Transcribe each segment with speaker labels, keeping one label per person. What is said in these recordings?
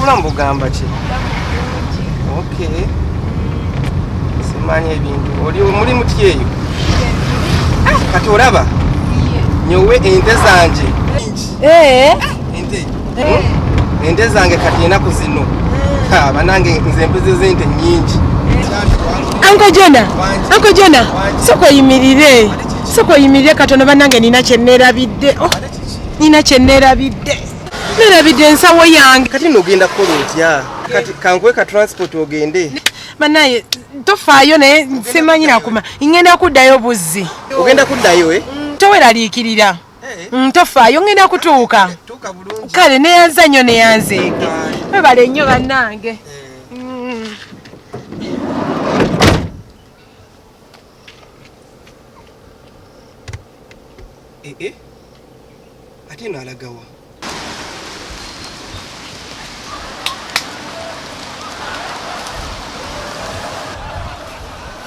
Speaker 1: obulamu bugamba ki okay simanyi ebintu oli mulimu ki eyo ah, kati olaba nyowe ente zanje eh. eh. ente zange kati enaku zino eh. banange nze embuzi zente nyingi anko jona anko jona sokoyimirire soka oyimirire katono banange nina kyenerabidde oh, nina kyenerabidde nerabidde ensawo yange kati nogenda kukola otya kati kankuwe ka transport ogende banaye tofaayo naye simanyi nakuma ngenda kuddayo buzzi ogenda kuddayo e toweraliikirira eh. mm, tofaayo ngenda kutuuka kale neyanza nnyo neyanzeege webale nnyo banange eh. Eh, eh. ate eno alagawa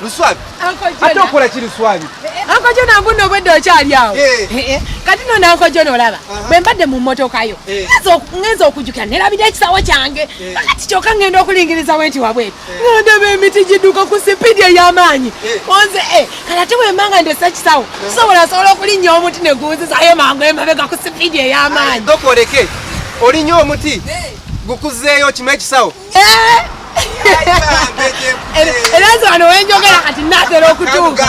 Speaker 1: luswabi ate okola ki luswabi eh, ankojo nangu no obwedde okyali awo kati no nankojo nolaba bwe mbadde mu mmotokayo ngenza okujukira nerabira ekisawo kyange kati kyoka ngenda okulingiriza wenti wabwetu ngandaba emiti giduka ku sipidi eyamaanyi onze eh. eh, kala te wemba nga ndesa ekisawo kisobola sobola okulinnya omuti negunziza aye mangu emabega ku sipidi eyamaanyi dokoleke olinya omuti eh. gukuzeeyo kima ekisawo era nze wano wenjogera kati natera okutuuka